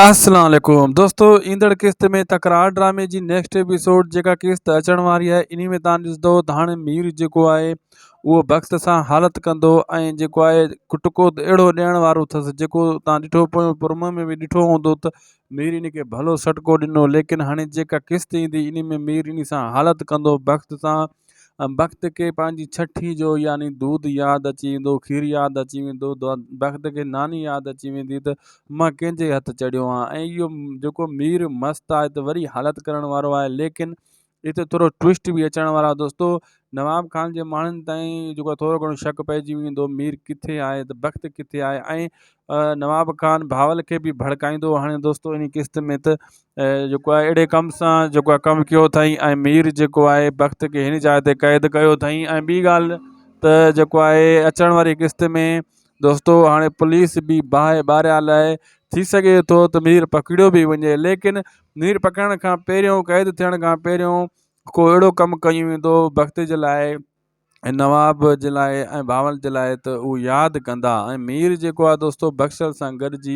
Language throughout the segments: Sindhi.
السلام عليڪم دوستو ايندڙ قسط ۾ تڪرار ڊرامي جي نيڪسٽ ايپيسوڊ جيڪا قسط اچڻ واري آهي انهي ۾ تان ڏسندو ته هاڻي مير جيڪو آهي اهو بخت سان حالت ڪندو ۽ جيڪو آهي ٽڪو ته اهڙو ڏيڻ وارو اٿس جيڪو تان ڏٺو پويون پرومو ۾ به ڏٺو هوندو ته مير انهي کي ڀلو سٽڪو ڏنو ليڪن هاڻي جيڪا قسط ايندي انهي ۾ مير انهي سان حالت ڪندو بخت سان بخت کي پنهنجي ڇٺي جو يعني دود ياد اچي ويندو کير ياد اچي ويندو بخت کي ناني ياد اچي ويندي ته مان ڪنهن جي هٿ چڙهيو آهيان ۽ اهو جيڪو مير مست آهي ته وري حالت ڪرڻ وارو آهي ليڪن هتي ٿورو ٽوئسٽ به اچڻ وارو آهي دوستو نواب خان جي ماڻهن تائين جيڪو ٿورو گهڻو شڪ پئجي ويندو مير ڪٿي آهي ته بخت ڪٿي آهي ۽ نواب خان بھاول کي به ڀڙڪائيندو هو هاڻي دوستو انهي قسط ۾ ته جيڪو آهي اهڙي ڪم سان جيڪو آهي ڪم ڪيو اٿائين ۽ مير جيڪو آهي بخت کي هن جاء تي قيد ڪيو اٿائين ۽ ٻي ڳالهه ته جيڪو آهي اچڻ واري قسط ۾ دوستو هاڻي پوليس به باهه ٻاريا لاء ٿي سگهي ٿو ته مير پڪڙيو به وڃي ليڪن مير پڪڙڻ کان پهريون قيد ٿيڻ کان پهريون ڪو اهڙو ڪم ڪيو ويندو بخت جي لاء ۽ نواب جي لاء ۽ بھاول جي لاء ته اھو ياد ڪندا ۽ مير جيڪو آھي دوستو بخشل سان گڏجي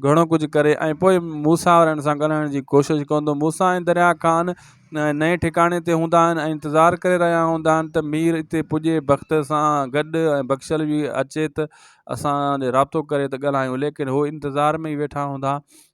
گھڻو ڪجھه ڪري ۽ پوء موسيٰ وارن سان ڳالھائڻ جي ڪوشش ڪندو موسيٰ ۽ دريا خان نئين ٺڪاڻي تي ھوندا آھن ۽ انتظار ڪري رھيا ھوندا آھن ته مير اتي پڄي بخت سان گڏ ۽ بخشل به اچي ته اسان رابطو ڪري ته ڳالھايون ليڪن ھو انتظار ۾ ئي ويٺا ھوندا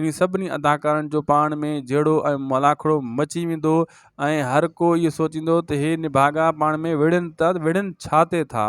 انهن سڀني اداڪارن جو پاڻ ۾ جهيڙو ۽ ملاکڙو مچي ويندو ۽ هر ڪو اهو سوچيندو ته هي نڀاڳا پاڻ ۾ وڙهن ته وڙهن ڇا تي ٿا؟